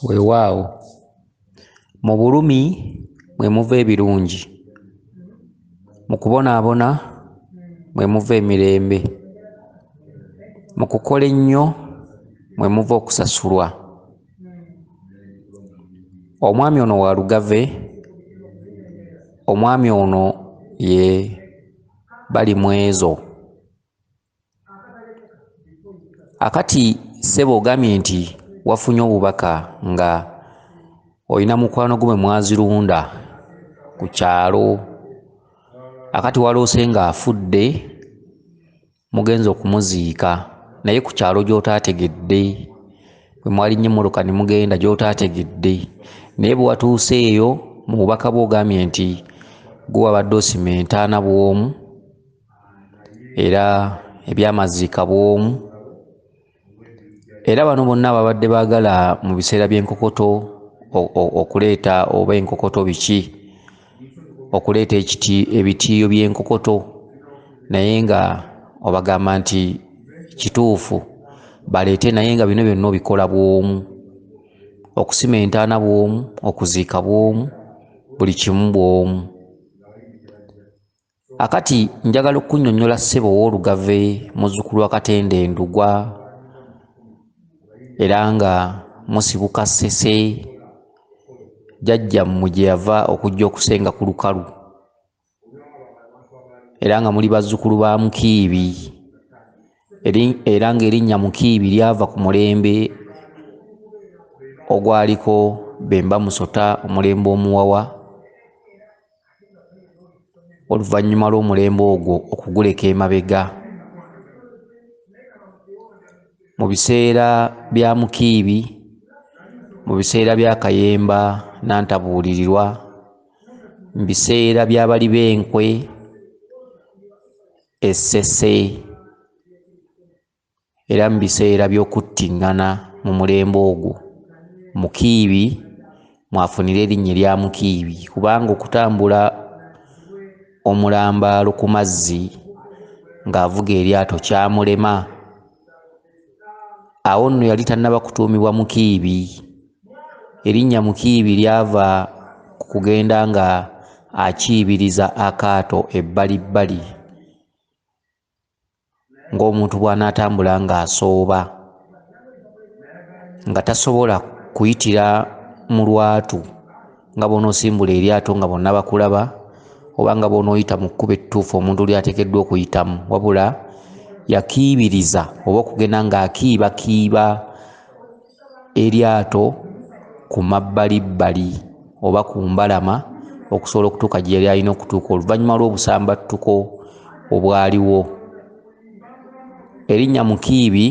weewaawo mu bulumi mwe muva ebirungi mu kubonaabona mwe muva emirembe mu kukola ennyo mwe muva okusasulwa omwami ono wa lugave omwami ono ye bali mwezo akati sebo ogambye nti wafunye obubaka nga olina mukwano gwe mwazirunda ku kyalo akati waloose ng'afudde mugenza okumuziika naye ku kyalo gy'otaategedde bwe mwali nnyo emmoloka ne mugenda gy'otaategedde naye bwe watuuse eyo mu bubaka bwe ogambye nti gwe wabadde osima entaana bw'omu era ebyamaziika bwomu era bano bonna babadde bagala mu biseera by'enkokoto okuleeta oba enkokoto biki okuleeta ekiti ebitiiyo by'enkokoto naye nga obagamba nti kituufu baleete naye nga bino byonna obikola bwomu okusima entaana bwomu okuziika bwomu buli kimu bwomu akati njagala okunyonyola ssebo owolugave muzukulu wa katende ndugwa era nga musibuka sese jajja mmwe gye yava okujja okusenga ku lukalu era nga muli bazzukulu ba mukiibi era ng'erinnya mukiibi lyava ku mulembe ogwaliko bemba musota omulembe omuwawa oluvannyuma lw'omulembe ogwo okuguleka emabega mu biseera bya mukiibi mu biseera bya kayemba nantabuulirirwa mu biseera by'abali b'enkwe essese Era mu biseera by'okuttingana mu mulembe ogwo, Mukiibi mwafunira erinnya erya Mukiibi kubanga okutambula omulambaalo ku mazzi ng'avuga eryato kyamulema. Awo nno yali tannaba kutuumibwa Mukiibi. Erinnya Mukiibi lyava ku kugenda nga akiibiriza akaato ebbalibbali. ng'omuntu bw'anaatambula ng'asooba nga tasobola kuyitira mu lwatu nga bw'onoosimbula eryato nga bonna bakulaba oba nga bw'onooyita mu kkubo ettuufu omuntu ly'ateekeddwa okuyitamu wabula yakiibiriza oba okugenda ng'akiibakiiba eryato ku mabbalibbali oba ku mbalama okusobola okutuuka gye yali alina okutuuka oluvannyuma lw'obusambattuko obwaliwo erinnya mukiibi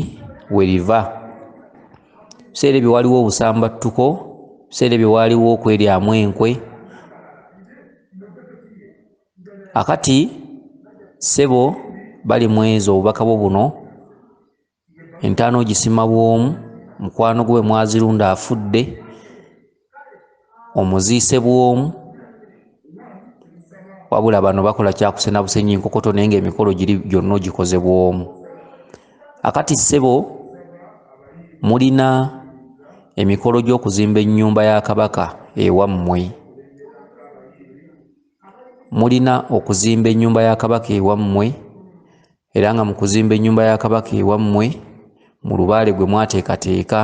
we riva biseera ebyo waliwo obusambattuko biseera ebyo waaliwo okweryamu enkwe akati sebo bali mwezo obubaka bwo buno entaana ogisima bw'omu mukwano gwe mwazirunda afudde omuziise bw'omu wabula bano bakola kyakusena busenyi nkokoto naye nga emikolo giri gyonna ogikoze bw'omu akati ssebo mulina emikolo gy'okuzimba ennyumba ya kabaka ewammwe mulina okuzimba ennyumba ya kabaka ewammwe era nga mu kuzimba ennyumba ya kabaka ewammwe mu lubaale gwe mwateekateeka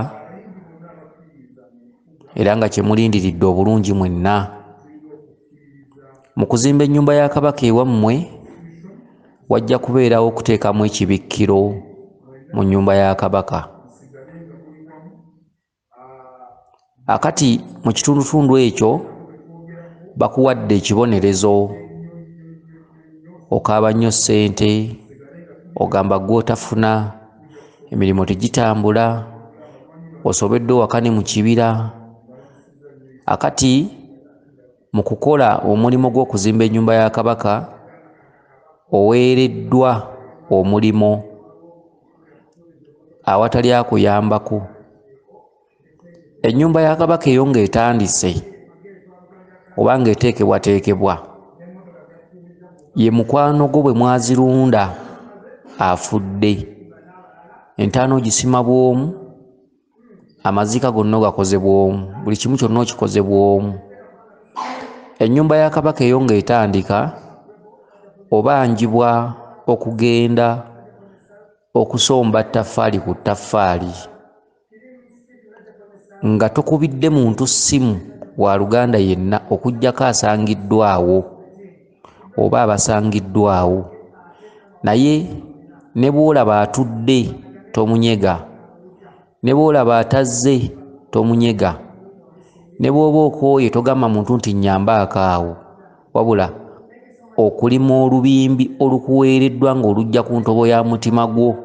era nga kye mulindiridde obulungi mwenna mu kuzimba ennyumba ya kabaka ewammwe wajja kubeerawo okuteekamu ekibikkiro mu nnyumba ya kabaka akati mu kitundutundu ekyo bakuwadde ekibonerezo okaaba nnyo ssente ogamba gwotafuna emirimu tegitambula osobedde owaka ne mu kibira akati mu kukola omulimu gw'okuzimba ennyumba ya kabaka oweereddwa omulimu awatali akuyambako ennyumba ya kabaka eyo nga etandise oba nga eteekebwateekebwa ye mukwano gwo bwe mwazirunda afudde entaana ogisima bw'omu amaziika gonna ogakoze bwomu buli kimu kyonna okikoze bwomu ennyumba ya kabaka eyo nga etandika obanjibwa okugenda okusomba ttaffaali ku ttaffaali nga tokubidde muntu ssimu wa luganda yenna okugyako asangiddwawo oba abasangiddwawo naye ne bw'olaba atudde tomunyega ne bw'olaba atazze tomunyega ne bw'oba okooye togamba muntu nti nyamba akaawo wabula okulima olubimbi olukuweereddwa ng'olujja ku ntobo ya mutima gwo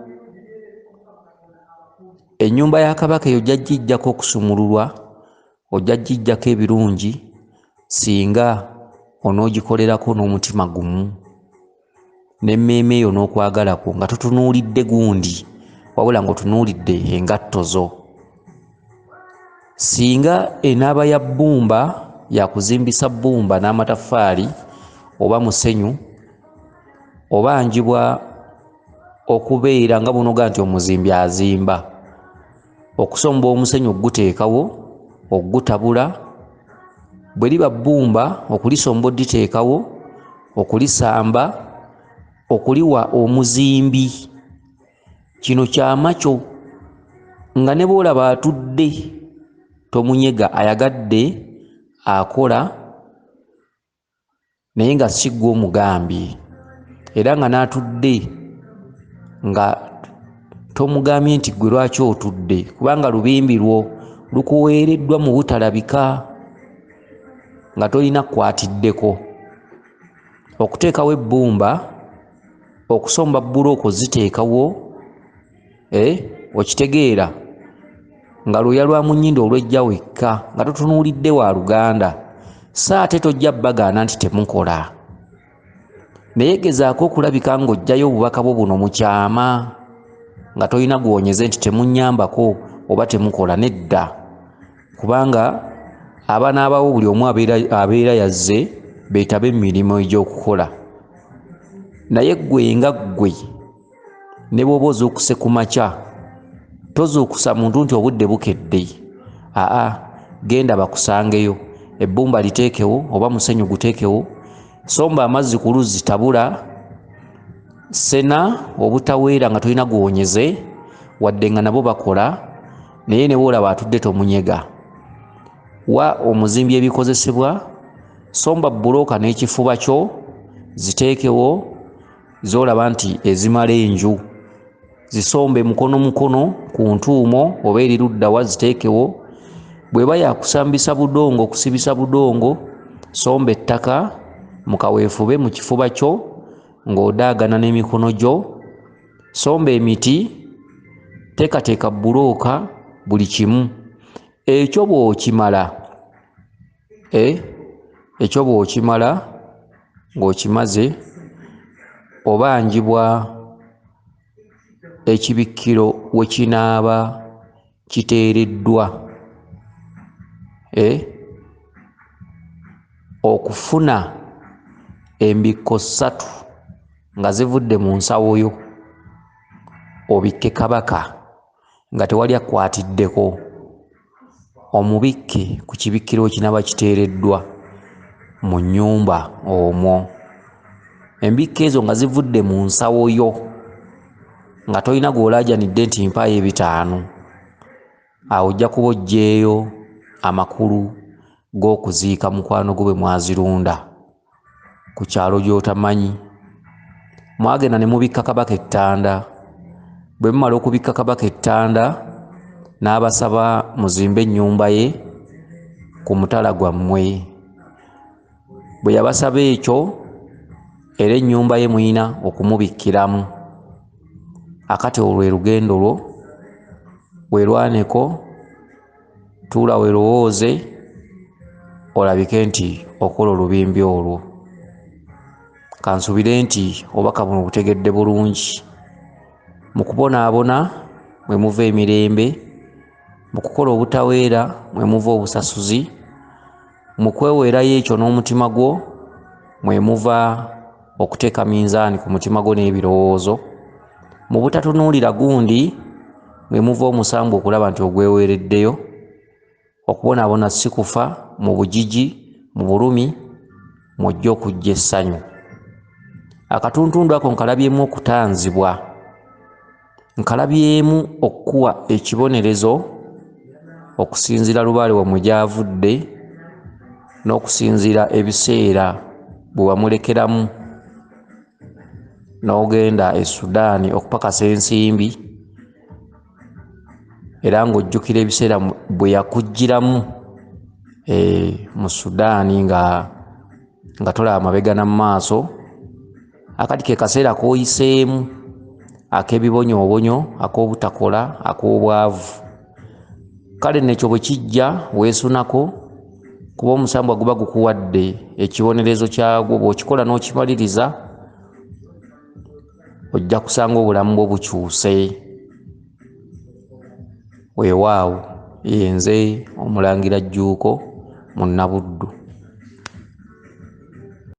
ennyumba ya kabaka eyo gyajjijjako okusumululwa ojja gijjako ebirungi singa onoogikolerako n'omutima gumu n'emmeeme yo n'okwagala kwo nga totunuulidde gundi wabula ng'otunuulidde engatto zo singa enaaba ya bbumba yakuzimbisa bbumba n'amataffaali oba musenyu oba njibwa okubeera nga bunoga nti omuzimbi azimba okusomba omusenyu okuguteekawo okugutabula bwe liba bbumba okulisomba oditeekawo okulisamba okuliwa omuzimbi kino kyama kyo nga ne boolaba atudde tomunyega ayagadde akola naye nga si ggwe omugambye era nga n'atudde nga tomugambye nti ggwe lwaki otudde kubanga lubimbi lwo lukuweereddwa mu butalabika nga tolina kukwatiddeko okuteekawo ebbumba okusomba bbulooka oziteekawo eh, okitegeera nga lwoya lwa munyinda olwejja wekka nga totunuulidde wa luganda so ate tojja bagaana nti temukola naye gezaako okulabika ng'ojjayo obubaka bwo buno mu kyama nga tolina gwonyeze nti temunyambako oba temukola nedda kubanga abaana abawo buli omu abeera yazze beetabe mu mirimu egy'okukola naye ggwe nga ggwe ne bwoba ozuukuse ku makya tozuukusa muntu nti obudde bukedde aa genda bakusangeyo ebbumba liteekewo oba musenyu guteekewo somba amazzi ku luzzi tabula sena obutaweera nga tolina guwonyeze wadde nga nabo bakola naye ne bwolaba atudde tomunyega wa omuzimbi ebikozesebwa somba bbulooka n'ekifuba kyo ziteekewo zolaba nti ezimala enju zisombe mukono mukono ku ntuumo oba eri luddawa ziteekewo bweba yakusambisa budongo okusibisa budongo somba ettaka mu kaweefube mu kifuba kyo ng'odaagana n'emikono gyo somba emiti teekateeka bbulooka buli kimu ekyo bw'okimala eh, ekyo bw'okimala ng'okimaze obanjibwa ekibikkiro we kinaaba kiteereddwa eh, okufuna embikko ssatu nga zivudde mu nsawo yo obikke kabaka nga tewali akkwatiddeko omubikke ku kibikkiro kinaba kiteereddwa mu nnyumba omwo embikka ezo nga zivudde mu nsawo yo nga tolina gw'olaajanidde nti mpaayo ebitaano awo ojja kuba oggyeeyo amakulu g'okuziika mukwano gwo bwe mwazirunda ku kyalo gy'otamanyi mwagenda ne mubikka kabaka ettanda bwe mumala okubikka kabaka ettanda n'abasaba muzimbe ennyumba ye ku mutala gwammwe bwe yabasaba ekyo era ennyumba ye muyina okumubikkiramu akati olwo lwe lugendo lwo werwaneko tuula werowooze olabike nti okola olubimbi olwo kansubire nti obubaka buno butegedde bulungi mu kubonaabona mwe muva emirembe mu kukola obutaweera mwe muva obusasuzi mu kweweerayo ekyo n'omutima gwo mwe muva okuteeka minzaani ku mutima gwo n'ebirowoozo mu butatunuulira gundi mwe muva omusango okulaba nti ogweweereddeyo okubonaabona si kufa mu bujiji mu bulumi mwojja okujja essanyu akatuntundu ako nkalabyemu okutanzibwa nkalabyemu okukuwa ekibonerezo okusinziira lubaale wamwe gyavudde n'okusinziira ebiseera bwe wamulekeramu n'ogenda e sudaani okupakasa ensimbi era ng'ojjukira ebiseera bwe yakuggyiramu e, mu sudaani nga nga tolaba mabega na mu maaso akati ke kaseera k'oyiseemu ak'ebibonyoobonyo ak'obutakola ak'obwavu kale nekyo bwe kijja weesunako kuba omusambwa guba gukuwadde ekibonerezo kyagwo bw'okikola n'okimaliriza ojja kusanga obulamu bwo bukyuse weewaawo yenze omulangira jjuuko mu nabuddu